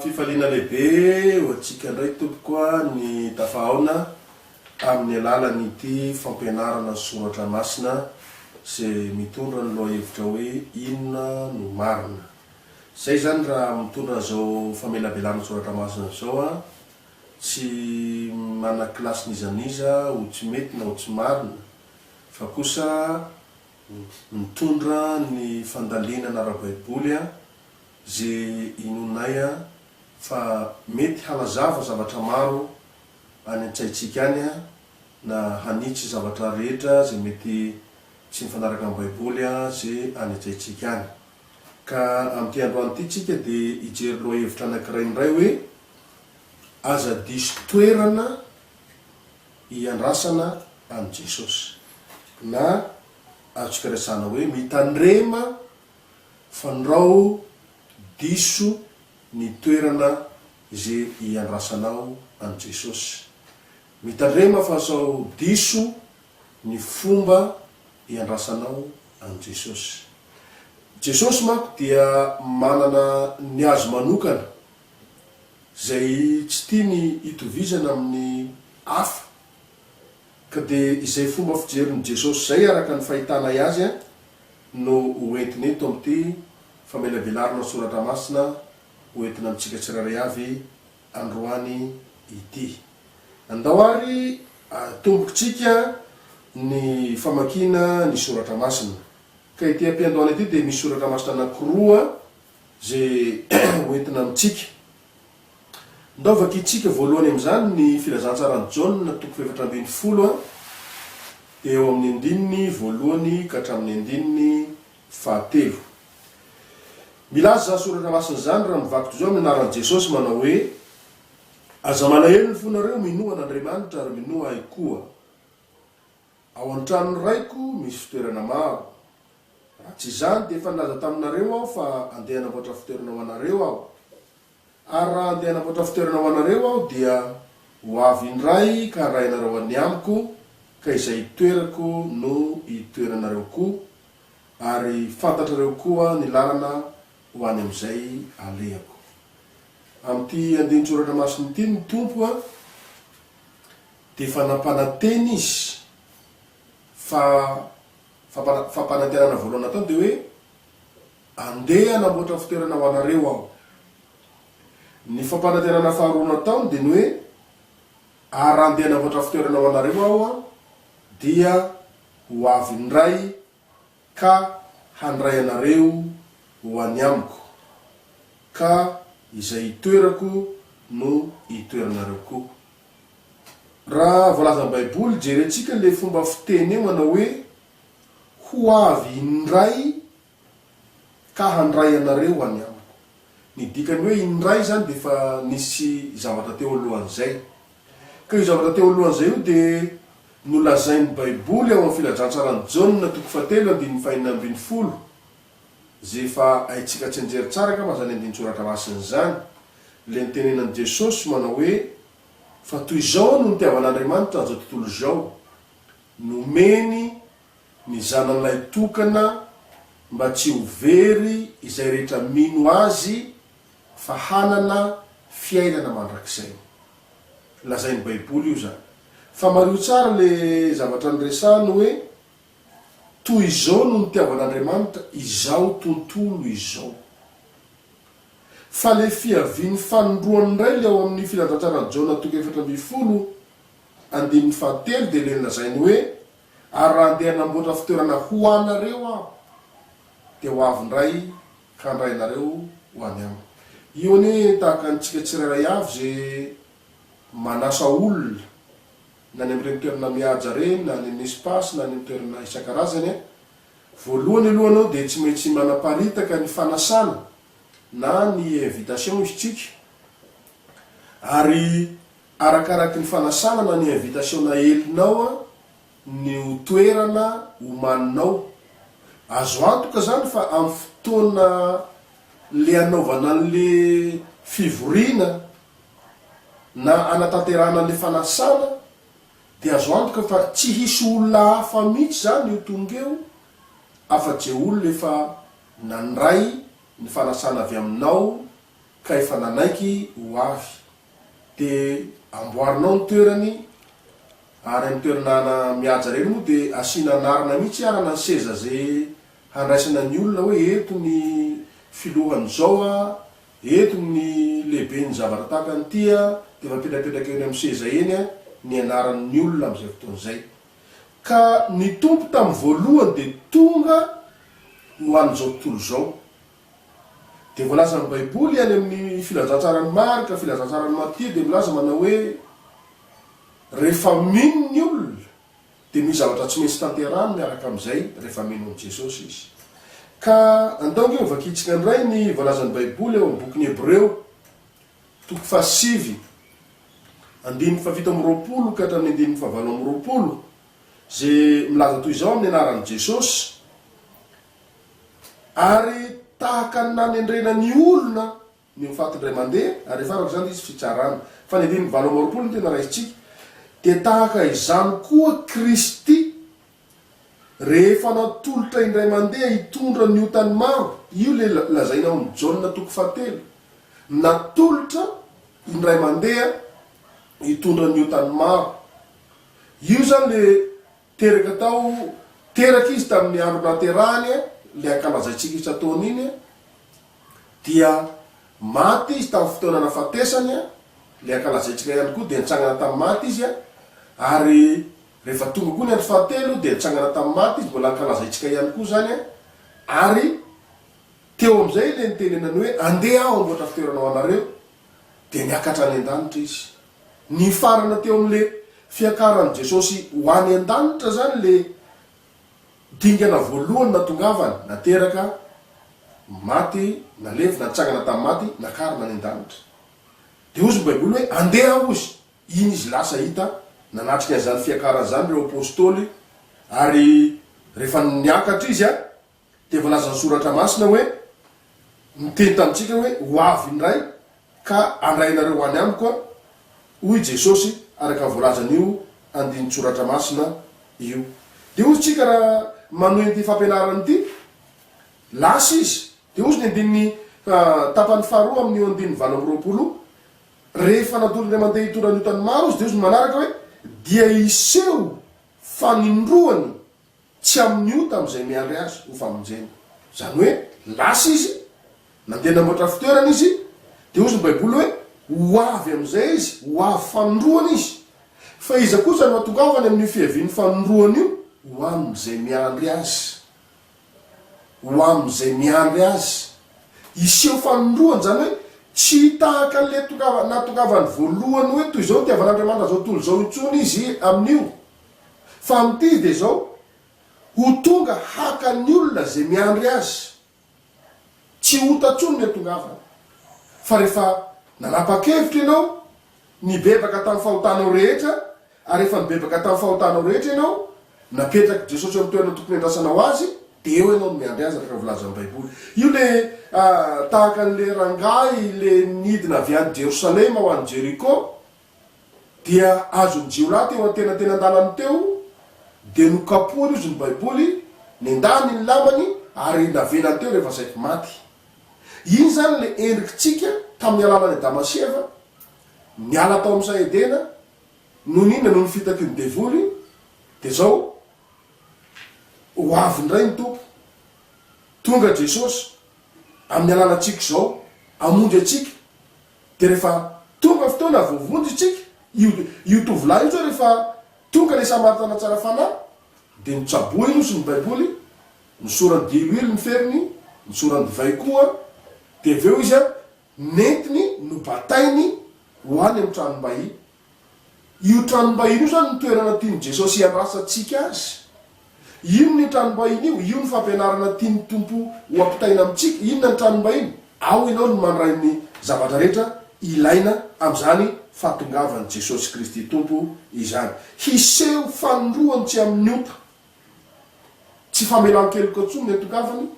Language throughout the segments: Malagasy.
Fifaliana lehibe ho antsika indray tompoko ny tafahaona amin'ny alalan'ity fampianarana ny soratra masina izay mitondra ny lohahevitra hoe inona no marina. Izay izany raha mitondra an'izao famelabelana soratra masina izao an, tsy manana kilasy n'iza n'iza ho tsy mety na ho tsy marina fa kosa mitondra ny fandalinana ara-baiboly an, ze inoanay a, fa mety hanazava zavatra maro any an-tsaintsika any a, na hanitsy zavatra rehetra ze mety tsy mifanaraka amin'ny baiboly a, ze any an-tsaintsika any. Ka amin'ity androany ity tsika de hijery lohahevitra anakiray indray hoe, Aza diso toerana hiandrasana an'i Jesosy. Na azontsika resahana hoe, mitandrema. Fandrao diso ny toerana izay iandrasanao an'i Jesosy. Mitandrema fa sao diso ny fomba iandrasanao an'i Jesosy. Jesosy manko dia manana ny Azy manokana izay tsy tiany hitovizana amin'ny hafa. Ka dia izay fomba fijerin'i Jesosy izay araka ny fahitanay Azy no ho entiny eto amin'ity famelabelarana soratra masina ho entina amintsika tsirairay avy androany ity. Andao ary atombokitsika ny famakiana ny soratra masina. Ka ity am-piandohana ity dia misy soratra masina anankiroa izay ho entina amintsika. Ndao vakintsika voalohany amin'izany ny Filazantsaran'i Jaona toko fahefatra ambin'ny folo, dia eo amin'ny andininy voalohany ka hatramin'ny andininy fahatelo. Milaza izany soratra masina izany raha mivaky toy izao amin'ny anaran'i Jesosy manao hoe, Aza malahelo ny fonareo, minoa an'Andriamanitra ary minoa ahy koa. Ao an-tranon'ny Raiko misy fitoerana maro. Raha tsy izany dia efa nilaza taminareo aho fa andeha hanamboatra fitoerana ho anareo aho. Ary raha handeha hanamboatra fitoerana ho anareo aho, dia ho avy indray ka handray anareo any amiko, ka izay itoerako no hitoeranareo koa, ary fantatrareo koa ny lalana ho any amin'izay alehako. Amin'ity andinin-tsoratra masina ity ny Tompo dia efa nampanantena Izy fa, fa, fa, fampanantenana voalohany nataony dia hoe, Andeha hanamboatra fitoerana ho anareo aho. Ny fampanantenana faharoa nataony dia ny hoe, Ary raha andeha hanamboatra fitoerana ho anareo aho, dia ho avy indray ka handray anareo ho any amiko, ka izay itoerako no hitoeranareo koa. Raha voalazan'ny Baiboly, jerentsika ilay fomba fiteny eo manao hoe, Ho avy indray Ka handray anareo ho any amiko. Ny dikany hoe indray izany dia efa nisy zavatra teo alohan'izay. Ka io zavatra teo alohan'izay io dia nolazain'ny Baiboly ao amin'ny Filazantsaran'i Jaona toko fahatelo andininy fahenina ambin'ny folo, izay efa haintsika tsianjery tsara angamba izany andinin-tsoratra masina izany, ilay nitenenan'i Jesosy manao hoe, Fa toy izao no nitiavan'Andriamanitra an'izao tontolo izao, nomeny ny zananay tokana mba tsy ho very izay rehetra mino Azy fa hanana fiainana mandrakizay. Lazain'ny Baiboly io izany. Fa mariho tsara ilay zavatra niresahany hoe, Toy izao no nitiavan'Andriamanitra izao tontolo izao. Fa ilay fiavian'ny fanindroany indray ilay ao amin'ny Filazantsara Jaona toko efatra ambin'ny folo, andininy fahatelo dia ilay nolazainy hoe, Ary raha handeha hanamboatra fitoerana ho anareo aho, dia ho avy indray ka handray anareo ho any amiko. Io anie tahaka antsika tsirairay avy izay manasa olona, na any amin'ireny toerana mihaja ireny, na any amin'ny espace, na any amin'ny toerana isan-karazany an! Voalohany aloha ianao dia tsy maintsy manaparitaka ny fanasana na ny invitation izy tsika, ary Arakaraky ny fanasana na ny invitation naelinao ny ho toerana omaninao. Azo antoka izany fa amin'ny fotoana le anaovana an'le fivoriana na anatanterahana an'le fanasana dia azo antoka fa tsy hisy olona hafa mihitsy izany io tonga eo afa-je olona efa nandray ny fanasana avy aminao ka efa nanaiky ho avy. Dia amboarinao ny toerany ary amin'ny toerana mihaja ireny moa dia asiana anarana mihitsy arana ny seza ze handraisana ny olona hoe eto ny filohany zao a, eto ny lehiben'ny zavatra tahaka an'ity a, dia efa apetrapetraka eny amin'ny seza eny a ny anaran'ny olona amin'izay fotoana izay. Ka ny Tompo tamin'ny voalohany dia tonga ho an'izao tontolo izao. Dia voalazan'ny Baiboly any amin'ny Filazantsaran'i Marka, Filazantsaran'i Matia dia milaza manao hoe, Rehefa mino ny olona, dia misy zavatra tsy maintsy tanterahany miaraka amin'izay rehefa mino an'i Jesosy izy. Ka andao ange hovakiantsika indray ny voalazan'ny Baiboly ao amin'ny bokin'ny Hebreo, toko fahasivy, andininy fahafito amby roapolo ka hatramin'ny andininy fahavalo amby roapolo, izay milaza toy izao amin'ny anaran'i Jesosy, Ary tahaka ny nanendrena ny olona ny ho faty indray mandeha, ary efa araka izany dia hisy fitsarana. Fa ny andininy valo amby roapolo no tena raisintsika. Dia tahaka izany koa Kristy, rehefa natolotra indray mandeha hitondra ny otan'ny maro, io ilay lazaina ao amin'ny Jaona toko fahatelo, natolotra indray mandeha hitondra ny otan'ny maro. Io izany ilay Teraka tao, teraka izy tamin'ny andro nahaterahany ilay ankalazaintsika isan-taona iny, dia maty izy tamin'ny fotoana nahafatesany ilay ankalazaintsika ihany koa, dia nitsangana tamin'ny maty izy, ary rehefa tonga koa ny andro fahatelo dia nitsangana tamin'ny maty izy, mbola ankalazaintsika ihany koa izany, ary teo amin'izay ilay nitenenany hoe, andeha aho hamboatra fitoerana ho anareo, dia niakatra any an-danitra izy. Nifarana teo amin'le fiakaran'i Jesosy ho any an-danitra zany le dingana voalohany natongavany, nateraka, maty, nalevina, nitsangana tamin'ny maty, nakarina any an-danitra. De hozy ny baiboly hoe andeha hozy, iny izy lasa hita, nanatrika an'izany fiakarany zany reo apostoly, ary rehefa niakatra izy a. dia voalazan'ny Soratra Masina hoe, Niteny tamintsika hoe, Ho avy indray, ka handray anareo ho any Amiko Aho, hoy i Jesosy, araka ny voalazan'io andinin-tSoratra Masina io. Dia hoy isika raha manohy an'ity fampianarana ity, Lasa izy. Dia hoy ny andininy, tapany faharoa amin'io andininy valo amby roapolo io, Rehefa natolony indray mandeha hitondra ny otany maro Izy, dia hoy ny manaraka hoe, Dia hiseho fanindroany. Tsy amin'ny ota amin'izay miandry azy ho famonjena. Izany hoe, lasa izy, nandeha namboatra fitoerana izy, dia hozy ny Baiboly hoe, ho avy amin'izay izy, ho avy fanindroany izy. Fa iza kosa no hatongavany amin'io fiavian'ny fanindroany io? Ho amin'izay miandry azy. Ho amin'izay miandry azy. Hiseho fanindroany, izany hoe, tsy tahaka an'ilay tongava, nahatongavany voalohany hoe toy izao ny itiavan'Andriamanitra izao tontolo izao intsony izy amin'io. Fa amin'ity dia izao, ho tonga haka ny olona izay miandry azy. Tsy ota intsony ny hahatongavany. Fa rehefa nanapa-kevitra ianao, nibebaka tamin'ny fahotanao rehetra, ary rehefa nibebaka tamin'ny fahotanao rehetra ianao, napetrak'i Jesosy amin'ny toerana tokony hiandrasanao Azy, dia eo ianao no miandry Azy, araka ny volazan'ny Baiboly. Io ilay tahaka an'ilay rangahy ilay nidina avy any Jerosalema ho any Jeriko, dia azon'ny jiolahy teo antenatenan-dalany teo, dia nokapohany hozy ny Baiboly, nendahany ny lamany ary navelany teo rehefa saiky maty. Iny izany ilay endrikitsika tamin'ny alalan'i Adama sy Eva, niala tao amin'ny saha Edena, noho ny inona? Noho ny fitakian'ny devoly, dia izao, ho avy indray ny Tompo, tonga Jesosy, amin'ny alalantsika izao, hamonjy antsika. Dia rehefa tonga fotoana voavonjy isika, io io tovolahy io izao rehefa tonga ilay Samaritana tsara fanahy, dia notsaboiny hozy ny Baiboly, nosorany diloilo ny feriny, nosorany divay koa, dia avy eo izy an, nentiny nobatainy ho any amin'ny tranom-bahiny. Io tranom-bahiny io izany no toerana tian'i Jesosy hiandrasantsika azy. Inona io tranom-bahiny io? Io ny fampianarana tian'ny Tompo ho ampitaina amintsika. Inona ny tranom-bahiny? Ao ianao no mandray ny zavatra rehetra ilaina amin'izany fahatongavan'i Jesosy Kristy Tompo izany. Hiseho fanindroany tsy amin'ny ota, tsy famelan-keloka intsony ny hahatongavany,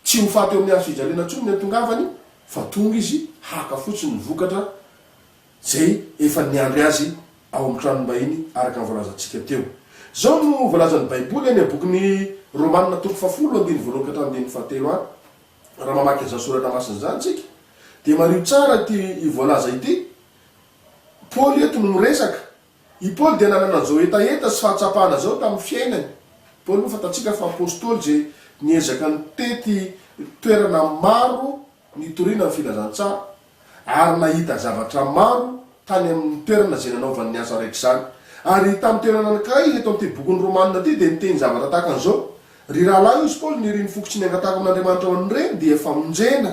tsy ho faty eo amin'ny hazofijaliana intsony ny hahatongavany, fa tonga Izy haka fotsiny ny vokatra. izay efa niandry azy ao amin'ny tranom-bahiny araka ny voalazantsika teo. Izao no voalazan'ny Baiboly any amin'ny bokin'ny Romana toko fahafolo andininy voalohany ka hatramin'ny andininy fahatelo any. Raha mamaky izany soratra masina izany isika dia mariho tsara ity voalaza ity. Paoly eto no miresaka. I Paoly dia nanana izao hetaheta sy fahatsapana izao tamin'ny fiainany. Paoly moa fantatsika fa apostoly izay niezaka nitety toerana maro. Nitoriana ny filazantsara ary nahita zavatra maro tany amin'ny toerana izay nanaovany ny asa raikitra izany. Ary hita amin'ny toerana anankiray eto amin'ity bokin'ny Romana ity dia niteny zavatra tahaka an'izao, Ry rahalahy, hoy izy Paoly, ny irin'ny foko tsy niangatako amin'Andriamanitra ho an'ireny dia famonjena.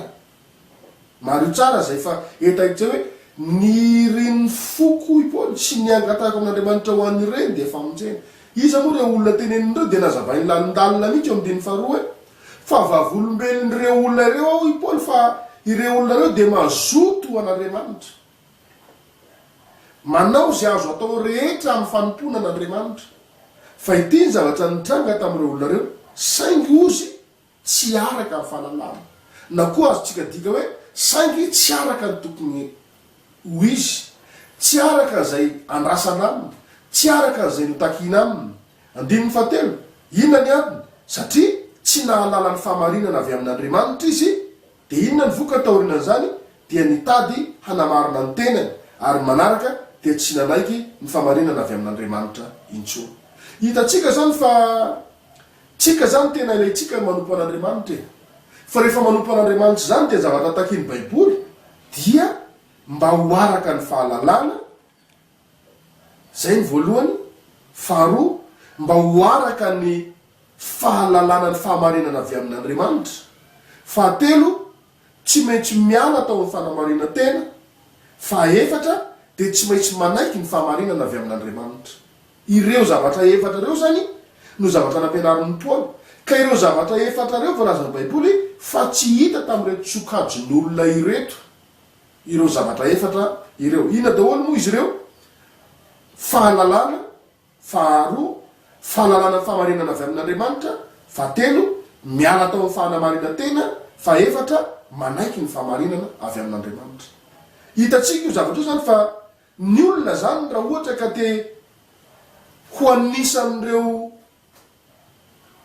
Mariho tsara izay fa hita etsy hoe ny irin'ny foko, hoy Paoly, tsy niangatako amin'Andriamanitra ho an'ireny dia famonjena. Iza moa ireo olona teneniny ireo dia nazavain'ny lalindalina mihitsy eo amin'ny andininy faharoa hoe Fa vavolombelon'ireo olona ireo aho, hoy i Paoly, fa ireo olona ireo dia mazoto ho an'Andriamanitra. Manao izay azo atao rehetra amin'ny fanompoana an'Andriamanitra. Fa ity ny zavatra nitranga tamin'ireo olona ireo, saingy ozy tsy araka ny fahalalana. Na koa azontsika adika hoe, saingy tsy araka ny tokony ho izy, tsy araka izay andrasana aminy, tsy araka izay notakina aminy. Andininy fahatelo, Inona ny antony? Satria tsy nahalala ny fahamarinana avy amin'Andriamanitra izy, dia inona ny vokany taorianan'izany? Dia nitady hanamarina ny tenany, ary ny manaraka dia tsy nanaiky ny fahamarinana avy amin'Andriamanitra intsony. Hitantsika izany fa tsika izany tena ilaintsika ny manompo an'Andriamanitra e! Fa rehefa manompo an'Andriamanitra izany dia ny zavatra takin'ny Baiboly dia mba ho araka ny fahalalana Izay ny voalohany. Faharoa, mba ho araka ny fahalalana ny fahamarinana avy amin'Andriamanitra. Fahatelo, tsy maintsy miala tao amin'ny fanamarinan-tena. Fahaefatra, dia tsy maintsy manaiky ny fahamarinana avy amin'Andriamanitra. Ireo zavatra efatra ireo izany no zavatra nampianarin'i Paoly. Ka ireo zavatra efatra ireo voalazan'ny Baiboly fa tsy hita tamin'ireto sokajin'olona ireto. Ireo zavatra efatra ireo. Inona daholo moa izy ireo? Fahalalana, faharoa, fahalalana ny fahamarinana avy amin'Andriamanitra, fahatelo, miala tao amin'ny fahanamarinan-tena, fahefatra, manaiky ny fahamarinana avy amin'Andriamanitra. Hitantsika io zavatra io izany fa ny olona izany raha ohatra ka te ho anisan'ireo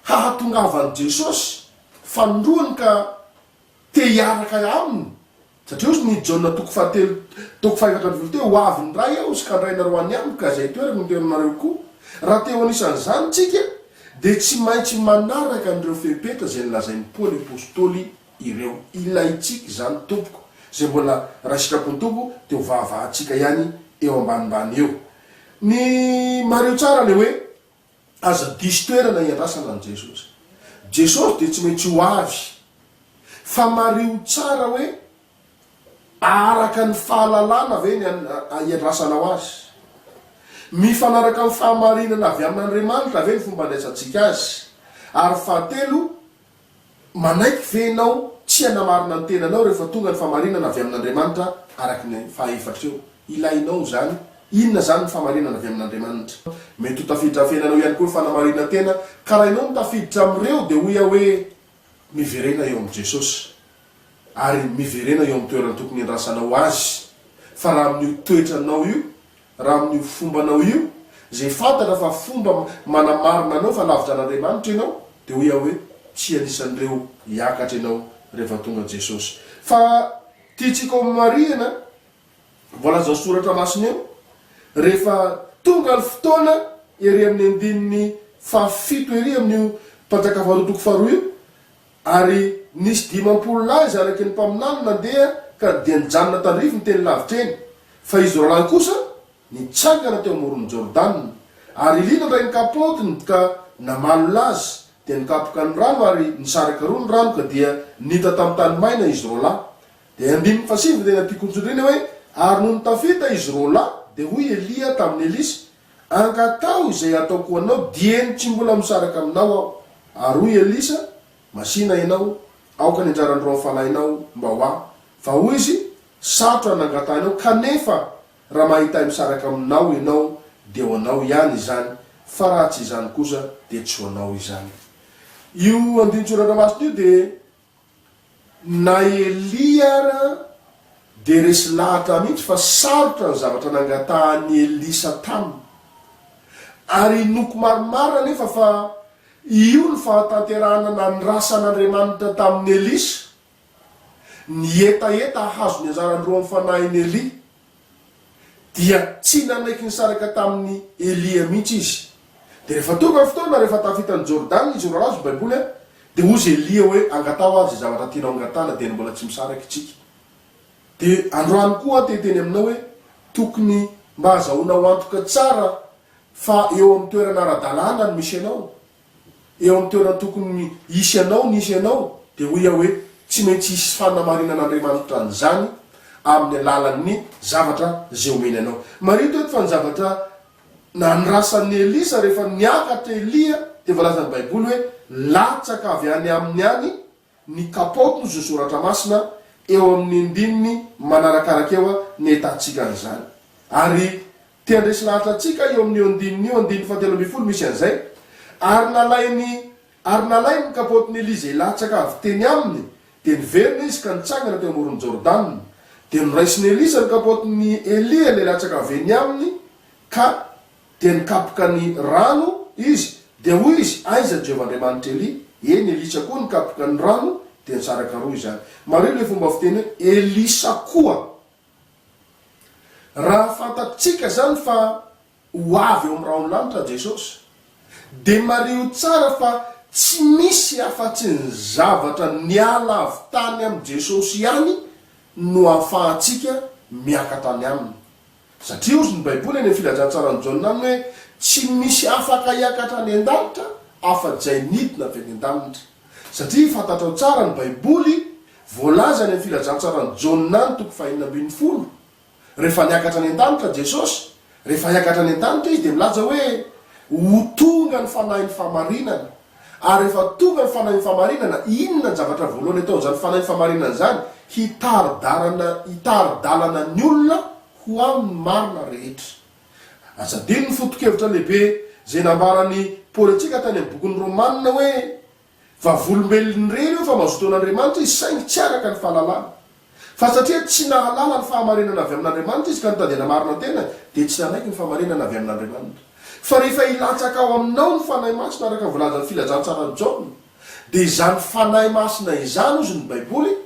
hahatongavan'i Jesosy fanindroany ka Te hiaraka aminy, satria hozy ny Jaona toko fahatelo toko fahefatra ambin'ny folo teo, ho avy ny Ray aho sy ka ny Ray nareo any amiko ka izay toerako no toerany nareo koa. Raha te ho anisan' izany tsika dia tsy maintsy manaraka an'ireo fepetra izay nolazain'i Paoly Apostoly ireo. Ilaintsika izany tompoko, izay mbola Ray sitrapon'ny Tompo dia ho vavahantsika ihany eo ambanimbany eo. Ny mariho tsara le hoe. Aza diso toerana iandrasana an'i Jesosy. Jesosy dia tsy maintsy ho avy. Fa mariho tsara hoe araka ny fahalalana ve ny iandrasanao Azy? Mifanaraka amin'ny fahamarinana avy amin'Andriamanitra ve ny fomba andraisantsika Azy? Ary fahatelo, Manaiky ve ianao tsy hanamarina ny tenanao rehefa tonga ny famarinana avy amin'Andriamanitra araka ny fahaefatra eo? Ilainao izany. Inona izany ny famarinana avy amin'Andriamanitra? Mety ho tafiditra amin'ny fiainanao ihany koa ny fanamarinan-tena, ka raha ianao no tafiditra amin'ireo, dia hoy aho hoe, Miverena eo amin'i Jesosy. ary miverena eo amin'ny toerany tokony hiandrasanao azy. Fa raha amin'io toetranao io, raha amin'io fombanao io, izay fantatra fa fomba manamarina anao fa lavitra an'Andriamanitra ianao, dia hoy aho hoe, tsy anisan'ireo hiakatra ianao rehefa tonga Jesosy. Fa tiantsika ho marihina, voalazan'ny Soratra Masina eo, rehefa tonga ny fotoana, ery amin'ny andininy fahafito ery amin'io Mpanjaka Faharoa toko faharoa io, Ary nisy dimampolo lahy zanaky ny mpaminany nandeha ka dia nijanona tandrify ny teny lavitra eny, fa izy roalahy kosa nitsangana teo amoron'ny Jordana. Ary Elia nandray ny kapaotiny ka namalo lazy, dia nikapoka ny rano ary nisaraka roa ny rano ka dia nita tamin'ny tany maina izy roalahy. Dia andininy fahasivy ny teny am-pikontsoindriana hoe, Ary nony tafita izy roalahy, dia hoy Elia tamin'i Elisa, Angataho izay hataoko ho anao dieny tsy mbola misaraka aminao aho. Ary hoy Elisa, Masìna ianao, aoka ny anjaran'ny roan'ny fanahinao mba ho ahy. Fa hoy izy, Sarotra ny nangatahinao, kanefa raha mahita ahy misaraka aminao ianao, dia ho anao ihany izany, fa raha tsy izany kosa, dia tsy ho anao izany. Io andinin-tsoratra masina io dia Na Elia ara dia resy lahatra mihitsy fa sarotra ny zavatra nangatahan'i Elisa taminy. Ary inoako marimarina anefa fa io no fahatanterahana nandrasan'Andriamanitra tamin'i Elisa, ny hetaheta hahazo ny anjarany roa amin'ny fanahin'i Elia. dia tsy nanaiky nisaraka tamin'i Elia mihitsy izy. Dia rehefa tonga ny fotoana, rehefa tafita an'i Jordana izy, milalao izy, Baiboly an, dia hoy izy Elia hoe, Angataho ary izay zavatra tianao hangatahana, dia ny mbola tsy misaraka isika. Dia androany koa aho te-hiteny aminao hoe, tokony mba azahoanao antoka tsara fa eo amin'ny toerana ara-dalàna ny misenao. eo amin'ny toerana tokony hisy anao nisy anao, dia hoy aho hoe, tsy maintsy hisy fanamarinan'Andriamanitra an'izany amin'ny alalan'ny zavatra izay omeny anao. Marihiko eto fa ny zavatra nandrasan'i Elisa rehefa niakatra Elia dia voalazan'ny Baiboly hoe latsaka avy any aminy any ny kapaotin'ny zo soratra masina eo amin'ny ndininy manarakaraka eo ny ahitantsika an'izany. Ary te handresy lahatra antsika eo amin'io andininy io, andininy fahatelo ambin'ny folo misy an'izay, Ary nalainy ary nalainy ny kapaotin'i Elia izay latsaka avy teny aminy, dia niverina izy ka nitsangana teo amoron'i Jordana. Dia noraisin'i Elisa ny kapaotin'i Elia ilay latsaka avy eny aminy ka Dia nikapoka ny rano izy, dia hoy izy, Aiza Jehovah Andriamanitr' Elia? Eny, Elisa koa nikapoka ny rano, dia nisaraka roa izany. Mariho ilay fomba fiteny hoe Elisa koa. Raha fantatsika izany fa ho avy eo amin'ny rahon'lanitra Jesosy, dia mariho tsara fa tsy misy afa-tsy ny zavatra niala avy tany amin'i Jesosy ihany no ahafahantsika miakatra any aminy. Satria hozy ny Baiboly any amin'ny Filazantsaran'i Jaona aminy hoe, Tsy misy afaka hiakatra any an-danitra afa-jay nidina avy any an-danitra. Satria fantatrao tsara ny Baiboly, voalaza any amin'ny Filazantsaran'i Jaona any toko fahenina ambin'ny folo, rehefa niakatra any an-danitra Jesosy, rehefa hiakatra any an-danitra Izy dia milaza hoe, Ho tonga ny Fanahin'ny fahamarinana. Ary rehefa tonga ny Fanahin'ny Fahamarinana, inona ny zavatra voalohany atao amin'izany Fanahin'ny Fahamarinana izany? Hitari-dalana hitari-dalana ny olona ho amin'ny marina rehetra. Aza adino ny foto-kevitra lehibe izay nambaran'i Paoly antsika tany amin'ny bokin'ny Romana hoe, Vavolombelon'irery io fa mazotoa an'Andriamanitra izy, saingy tsy araka ny fahalalana. Fa satria tsy nahalala ny fahamarinana avy amin'Andriamanitra izy ka nitady hanamarina tena, dia tsy nanaiky ny fahamarinana avy amin'Andriamanitra. Fa rehefa hilatsaka ao aminao ny Fanahy Masina araka ny voalazan'ny Filazantsaran'i Jaona, dia izany Fanahy Masina izany, hozy ny Baiboly,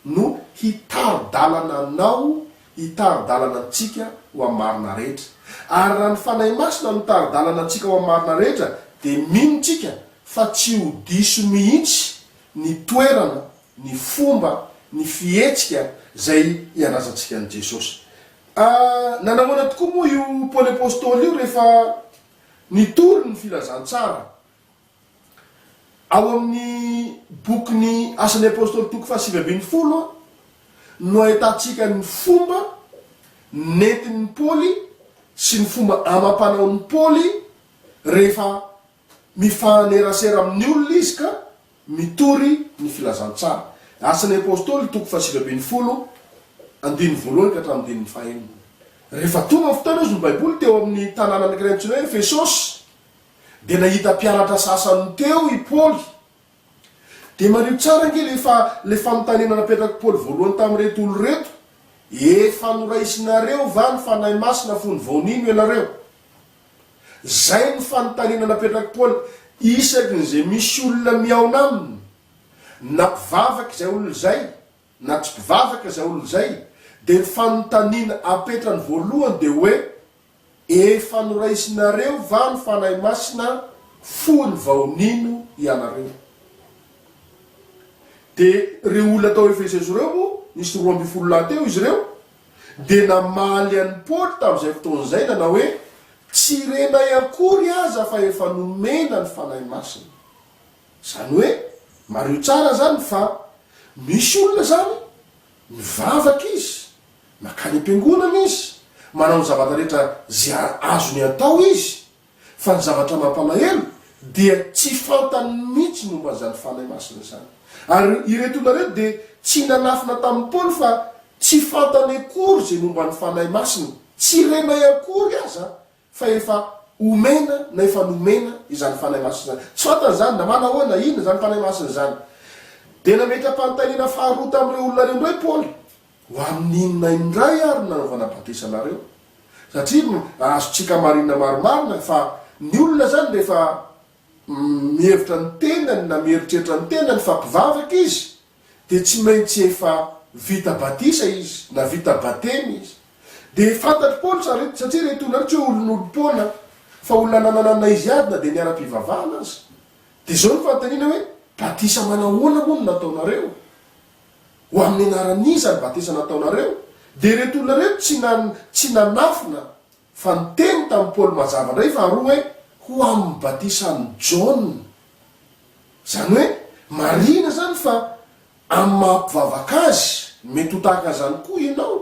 no hitari-dalana anao, hitari-dalana antsika ho amin'ny marina rehetra. Ary raha ny Fanahy Masina no mitari-dalana antsika ho amin'ny marina rehetra, dia mino tsika fa tsy ho diso mihitsy ny toerana ny fomba, ny fihetsika izay iandrasantsika an'i Jesosy. Nanahoana tokoa moa io Paoly apostoly io rehefa nitory ny filazantsara? Ao amin'ny bokin'ny Asan'ny apostoly toko fahasivy ambin'ny folo no ahitantsika ny fomba nentin'i Paoly sy ny fomba amam-panaon'i Paoly rehefa Mifanerasera amin'ny olona izy ka mitory ny filazantsara. Asan'ny Apostoly, toko fahasivy ambin'ny folo, andininy voalohany ka hatramin'ny andininy fahenina. Rehefa tonga ny fotoana hozy ny Baiboly teo amin'ny tanàna anankiray antsoina hoe Efesosy, dia nahita mpianatra sasany teo i Paoly. Dia mariho tsara ange ilay fa ilay fanontaniana napetrak'i Paoly voalohany tamin'ireto olona ireto, Efa noraisinareo va ny Fanahy Masina fony vao nino ianareo? Izay no fanontaniana napetrak'i Paoly isaky ny izay misy olona mihaona aminy, na mpivavaka izay olona izay na tsy mpivavaka izay olona izay, dia ny fanontaniana apetrany voalohany dia hoe, Efa noraisinareo va ny Fanahy Masina fony vao nino ianareo? Dia ireo olona tao Efeso ireo moa, nisy roa ambin'ny folo lahy teo izy ireo, dia namaly an'i Paoly tamin'izay fotoana izay nanao hoe, Tsy renay akory aza fa efa nomena ny Fanahy Masina. Izany hoe, mariho tsara izany fa misy olona izany mivavaka izy, mankany am-piangonana izy, manao ny zavatra rehetra izay azony atao izy, Fa ny zavatra mampalahelo dia tsy fantany mihitsy ny momba an'izany Fanahy Masina izany. Ary ireto olona ireto dia tsy nanafina tamin'i Paoly fa tsy fantany akory izay momba ny Fanahy Masina. Tsy renay akory aza fa efa omena na efa nomena izany Fanahy Masina izany. Tsy fantany izany na manao ahoana, inona izany Fanahy Masina izany. Dia nametra-panontaniana faharoa tamin'ireo olona ireo indray Paoly. Ho amin'ny inona indray ary no nanaovana batisa anareo? Satria azontsika marina marimarina fa ny olona izany rehefa mihevitra ny tenany na mieritreritra ny tenany fa mpivavaka izy dia tsy maintsy efa vita batisa izy na vita batemy izy. Dia fantatr'i Paoly satria ireto olona ireto tsy hoe olon'olom-poana fa olona nananana izy ady na dia ny ara-pivavahana aza. Dia izao ny fanontaniana hoe, batisa manahoana moa no nataonareo? Ho amin'ny anaran'iza ny batisa nataonareo? Dia ireto olona ireto tsy nan, tsy nanafina, fa niteny tamin'i Paoly mazava indray faharoa hoe, Ho amin'ny batisan'i Jaona. Izany hoe, marihina izany fa amin'ny maha-mpivavaka azy, mety ho tahaka an'izany koa ianao,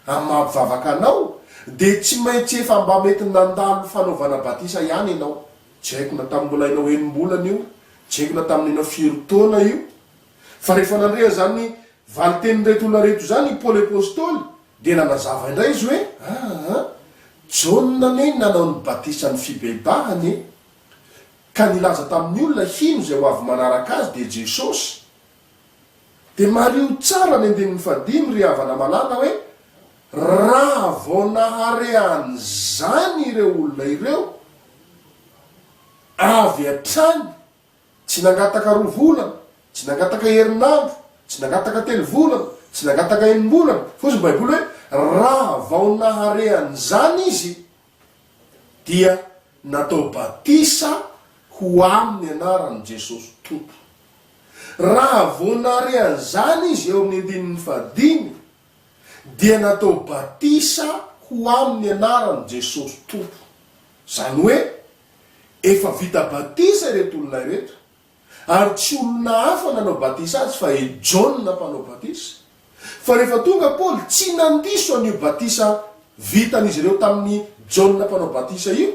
amin'ny maha-mpivavaka anao, dia tsy maintsy efa mba mety nandalo fanaovana batisa ihany ianao. Tsy haiko na tamin'ny mbola ianao enim-bolana io, tsy haiko na tamin'ny ianao firy taona io, Fa rehefa nandre an'izany valin-tenin'ireto olona ireto izany i Paoly Apostoly, dia nanazava indray izy hoe, Aa, Jaona anie nanao ny batisan'ny fibebahana e! Ka nilaza tamin'ny olona hino izay ho avy manaraka azy dia Jesosy. Dia mariho tsara ny andininy fahadimy, ry havana malala, hoe, Raha vao nahare an'izany ireo olona ireo avy hatrany, Tsy nangataka roa volana, tsy nangataka herinandro, tsy nangataka telo volana, tsy nangataka enim-bolana, fa hoy ny Baiboly hoe, Raha vao nahare an'izany izy, dia natao batisa ho amin'ny anaran'i Jesosy Tompo. Raha vao nahare an'izany izy, eo amin'ny andininy fahadimy, dia natao batisa ho amin'ny anaran'i Jesosy Tompo. Izany hoe, Efa vita batisa ireto olona ireto, ary tsy olona hafa nanao batisa azy fa i Jaona Mpanao Batisa. Fa rehefa tonga Paoly, tsy nandiso an'io batisa vitan'izy ireo tamin'i Jaona Mpanao Batisa io,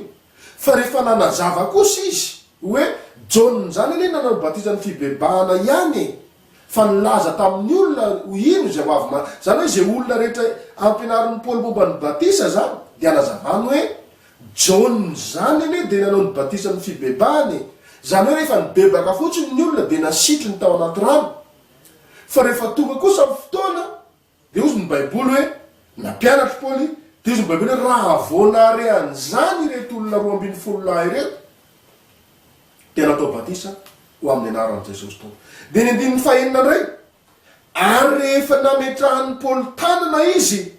fa rehefa nanazava kosa izy hoe, Jaona izany anie nanao ny batisan'ny fibebahana ihany e! Fa nilaza tamin'ny olona ho hino izay ho avy ma. Izany hoe izay olona rehetra ampianarin'i Paoly momba ny batisa izany dia anazavany hoe, Jaona izany anie dia nanao ny batisa amin'ny fibebahana e. Izany hoe rehefa nibebaka fotsiny ny olona dia nasitriny tao anaty rano. Fa rehefa tonga kosa ny fotoana Dia hozy ny Baiboly hoe, Nampianatr'i Paoly, dia hozy ny Baiboly hoe, Raha vao nahare an'izany ireto olona roa ambin'ny folo lahy ireto, dia natao batisa ho amin'ny anaran'i Jesosy tao. Dia ny andininy fahenina indray, Ary rehefa nametrahan'i Paoly tanana izy,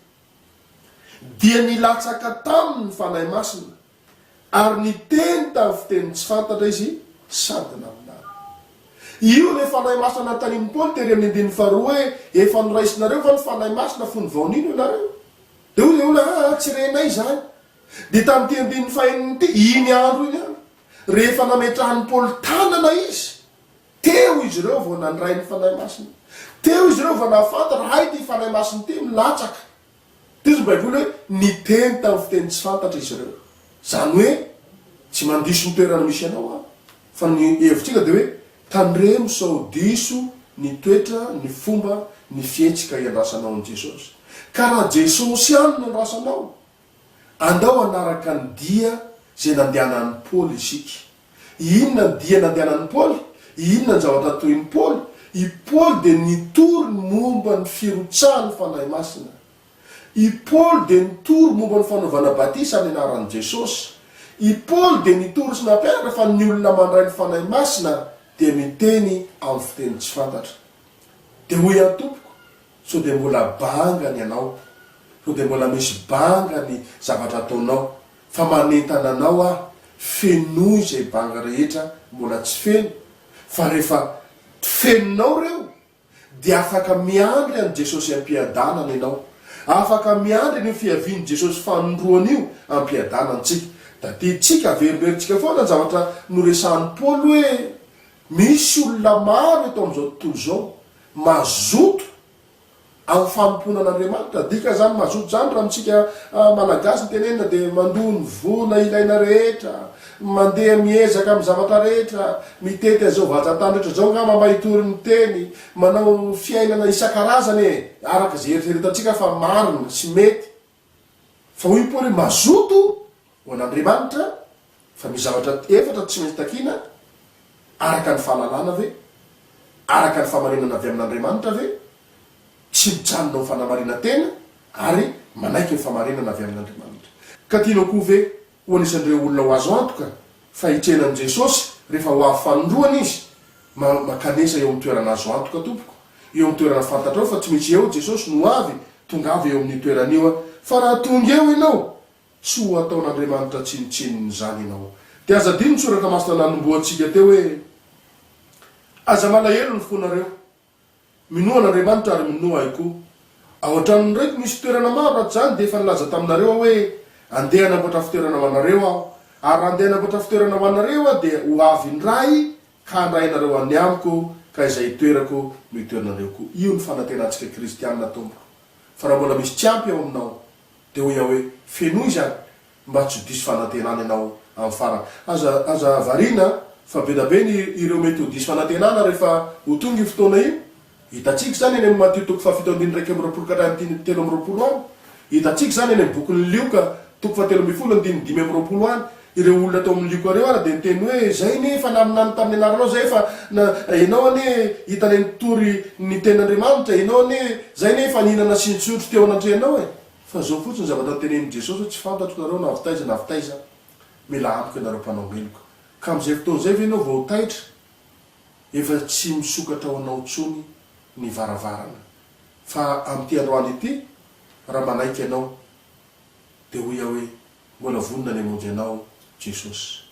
dia nilatsaka taminy ny Fanahy Masina, Ary niteny tamin'ny fiteny tsy fantatra izy sady naminany. Io ilay Fanahy Masina nanontanian'i Paoly tery amin'ny andininy faharoa hoe, Efa noraisinareo va ny Fanahy Masina fony vao nino ianareo? Dia hoy ilay olona, Aa, tsy renay izany. Dia tamin'ity andininy fahenina ity, iny andro iny ihany, rehefa nametrahan'i Paoly tanana izy, teo izy ireo vao nandray ny Fanahy Masina. Teo izy ireo vao nahafantatra, hay ity Fanahy Masina ity milatsaka. Tezitra ny Baiboly hoe niteny tamin'ny fiteny tsy fantatra izy ireo. Izany hoe tsy mandiso ny toerana misy anao aho. Fa ny hevitr'Inga dia hoe tandremo sao diso ny toetra, ny fomba, ny fihetsika hiandrasanao an'i Jesosy. Ka raha Jesosy ihany no andrasanao, andao hanaraka ny dia izay nandehanan'i Paoly isika. Inona ny dia nandehanan'i Paoly? Inona ny zavatra natorin'i Paoly? I Paoly dia nitory ny momba ny firotsahan'ny Fanahy Masina. I Paoly dia nitory momba ny fanaovana batisa amin'ny anaran'i Jesosy. I Paoly dia nitory sy nampianatra fa ny olona mandray ny Fanahy Masina dia miteny amin'ny fiteny tsy fantatra. Dia hoy aho, Tompoko, sao dia mbola banga ny anao? Sao dia mbola misy banga ny zavatra ataonao? Fa manentana anao aho, fenoy izay banga rehetra mbola tsy feno, fa rehefa fenonao ireo, dia afaka miandry an'i Jesosy am-piadanana ianao. Afaka miandry an'io fiavian'i Jesosy fanindroany io am-piadanana isika. Tadidintsika, averimberintsika foana ny zavatra noresahin'i Paoly hoe, Misy olona maro eto amin'izao tontolo izao, mazoto Ao fanompoana an'Andriamanitra. Dika zany mazoto zany raha amintsika Malagasy ny tenenina dia mandoa ny vola ilaina rehetra, mandeha miezaka amin'ny zavatra rehetra, mitety an'izao vazan-tany rehetra zao ngamba mba hitory ny teny, manao fiainana isan-karazany e! araka izay eritreretantsika fa marina sy mety. Fa hoy Paoly hoe mazoto ho an'Andriamanitra, fa misy zavatra efatra tsy maintsy takiana, araka ny fahalalana ve? araka ny fahamarinana avy amin'Andriamanitra ve? tsy mijanona amin'ny fanamarinan-tena ary manaiky ny fahamarinana avy amin'Andriamanitra. Ka tianao koa ve Ho anisan'ireo olona ho azo antoka fa hitrena amin'i Jesosy rehefa ho avy fanindroany Izy, ma, mankanesa eo amin'ny toerana azo antoka, tompoko, eo amin'ny toerana fantatrao fa tsy misy eo Jesosy no ho avy, tongava eo amin'io toerana io an, fa raha tonga eo ianao, tsy ho hataon'Andriamanitra tsinontsinona izany ianao. Dia aza adino ny Soratra Masina nanombohantsika teo hoe, Aza malahelo ny fonareo. Minoa an'Andriamanitra ary minoa ahy koa. Ao an-tranon'ny raiko misy toerana maro raha tsy izany dia efa nilaza taminareo aho hoe, Andeha hanamboatra fitoerana ho anareo aho. Ary raha andeha hanamboatra fitoerana ho anareo aho dia ho avy indray ka handray anareo any amiko ka izay itoerako no hitoeranareo koa. Io no fanantenantsika kristiana tompoko. Fa raha mbola misy tsy ampy ao aminao dia hoy aho hoe, Fenoy izany. mba tsy ho diso fanantenana ianao amin'ny farany. Aza aza variana fa be da be ny ireo mety ho diso fanantenana rehefa ho tonga io fotoana io. Hitantsika izany eny amin'ny Matio toko fahafito andininy iraika amby roapolo ka hatrany andininy telo amby roapolo any. Hitantsika izany eny amin'ny bokin'i Lioka toko fahatelo ambin'ny folo andininy dimy amby roapolo any. Ireo olona tao amin'ny Lioka ireo ary dia niteny hoe, Izay anie efa naminany tamin'ny anaranao izay efa na, ianao anie hitanay nitory ny tenin'Andriamanitra, ianao anie, izay anie efa nihinana sy nitsotro teo anatrehanao e. Fa zao fotsiny zavatra tenenin'i Jesosy hoe tsy fantatro nareo na avy taiza na avy taiza, mila amiko ianareo mpanao meloka. Ka amin'izay fotoana izay ve ianao vao ho taitra? Efa tsy misokatra ho anao intsony ny varavarana. Fa amin'ity androany ity, raha manaiky ianao, dia hoy aho hoe, mbola vonona ny hamonjy anao Jesosy.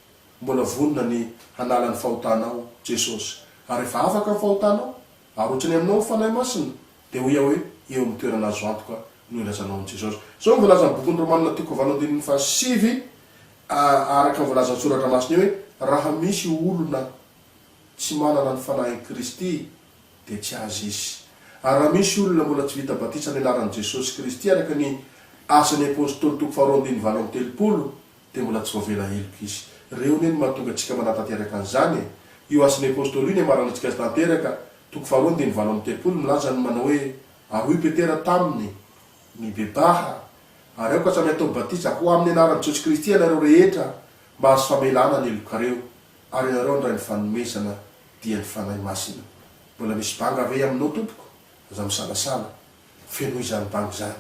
Mbola vonona ny hanala ny fahotanao Jesosy. Ary efa afaka ny fahotanao. Arotsony aminao ny Fanahy Masina, dia hoy aho hoe, eo amin'ny toerana azo antoka no ilazanao an'i Jesosy. Izao no voalazan'ny bokin'ny Romana toko valo andininy fahasivy, araka ny voalazan'ny Soratra Masina eo hoe, Raha misy olona tsy manana ny Fanahin'i Kristy, dia tsy azy izy. Ary raha misy olona mbola tsy vita batisa amin'ny anaran'i Jesosy Kristy araka ny Asan'ny Apostoly toko faharoa andininy valo amby telopolo, Dia mbola tsy voavela heloka izy. Reo ne no mahatonga antsika manatanteraka an'izany e! Io Asin'ny Apôstôly io no iamaran'ny antsika azy tanteraka, toko faharoa andininy valo amby telopolo, milaza ny manao hoe, Ary hoy Petera taminy, Mibebaha, ary aoka samy hatao batisa ho amin'ny anaran'i Jesosy Kristy ianareo rehetra mba hahazo famelana ny helokareo, ary ianareo handray ny fanomezana dia ny Fanahy Masina. Mbola misy banga ve aminao tompoko? Aza misalasala. Fenoy izany bango izany,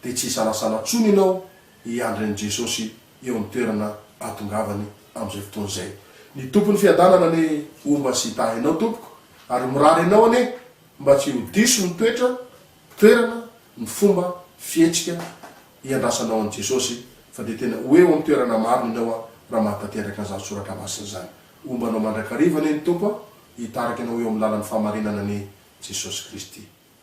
dia tsy hisalasala intsony ianao hiandry an'i Jesosy eo amin'ny toerana hahatongavany amin'izay fotoana izay. Ny Tompon'ny fiadanana anie homba sy hitahy anao tompoko, ary mirary anao anie mba tsy ho diso ny toetra, toerana, ny fomba, fihetsika hiandrasanao an'i Jesosy, fa dia tena ho eo amin'ny toerana marina ianao a, raha mahatanteraka an'izany soratra masina izany. Homba anao mandrakariva anie ny Tompo a, hitarika anao eo amin'ny lalan'ny fahamarinana anie Jesosy Kristy.